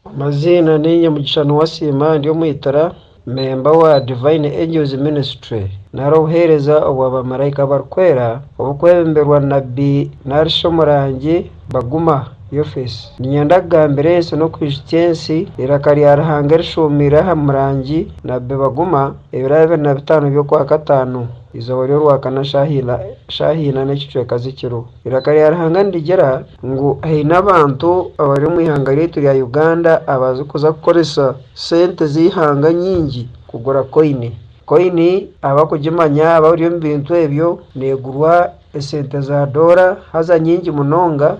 Amaziina ni Nyamugisha Nuwasiima ndi omwitira, memba owa Divine Angels Ministry nari obuheereza obwa bamaraika abarikwera obukwebemberwa Nabbi narishi omurangi Baguma Yofes. Ninyenda kugambira ensi n'okwijutsya ensi eiraka rya Ruhanga erishuumiire aha murangi Nabbi Baguma ebiro abiri na bitaano by'okwakataano eizooba ry'orwakana shaaha ina n'ekicweka z'ekiro. Eiraka rya Ruhanga nirigira ngu haine abantu abari omu ihanga ryaitu rya Uganda abarikuza kukoresa sente z'eihanga nyingi kugura koini. Koini abarikugimanya abari omu bintu ebyo neegurwa esente za doora haza nyingi munonga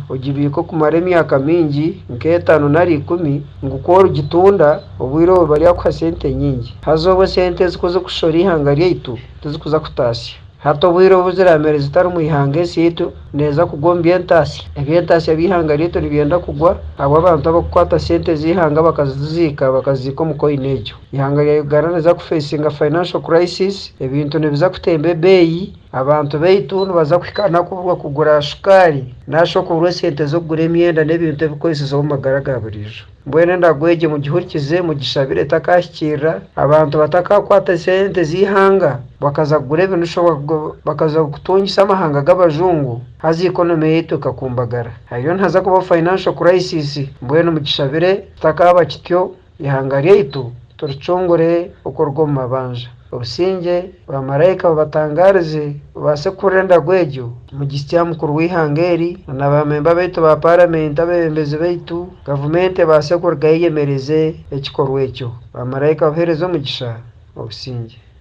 ogibiika okumara emyaka mingi nk'etaano nari ikumi ngu ku origitunda obwire obwo bari bakuha sente nyingi. Haza obwo sente ezi ku zirikushishora eihanga ryaitu tizikuza kutaasya. Hati obwire obu ziramere zitari mu ihanga esyaitu, neeza kugwa omu by'entaasya. Eby'entaasya by'eihanga ryaitu nibyenda kugwa ahabw'abantu abakukwata sente z'eihanga bakaziziika bakaziziika omu koini egyo. Ihanga rya Uganda niriza kufeesinga financial crisis, ebintu nibiza kutemba ebeeyi, abantu baitu nibaza kuhikaana kubura kugura shukaari, nari shi okubura esente z'okugura emyenda n'ebintu ebirikukoreseza omu magara ga buriijo. Mbwenu endago egyo mugihurikize, mugishabire etakaahikirira, abantu batakaakwata esente z'eihanga bakaza kugura ebinushwa bakaza kutungisa amahanga g'abajungu, haza economy yaitu ekakumbagara. Hariyo nihaza kubaho financial crisis, mbwenu mugishabire kitakaaba kityo, eihanga ryaitu turicungure okuruga omu mabanja. Obusingye bwa maraika bubatangaarize bubaase kuhurira endago egyo Omujistia Mukuru w'eihanga eri na na baamemba baitu ba Paramenti abeebembezi baitu, gavumenti ebaase kurugayo eyemereze ekikorwa ekyo. Ba maraika buheereze omugisha obusingye.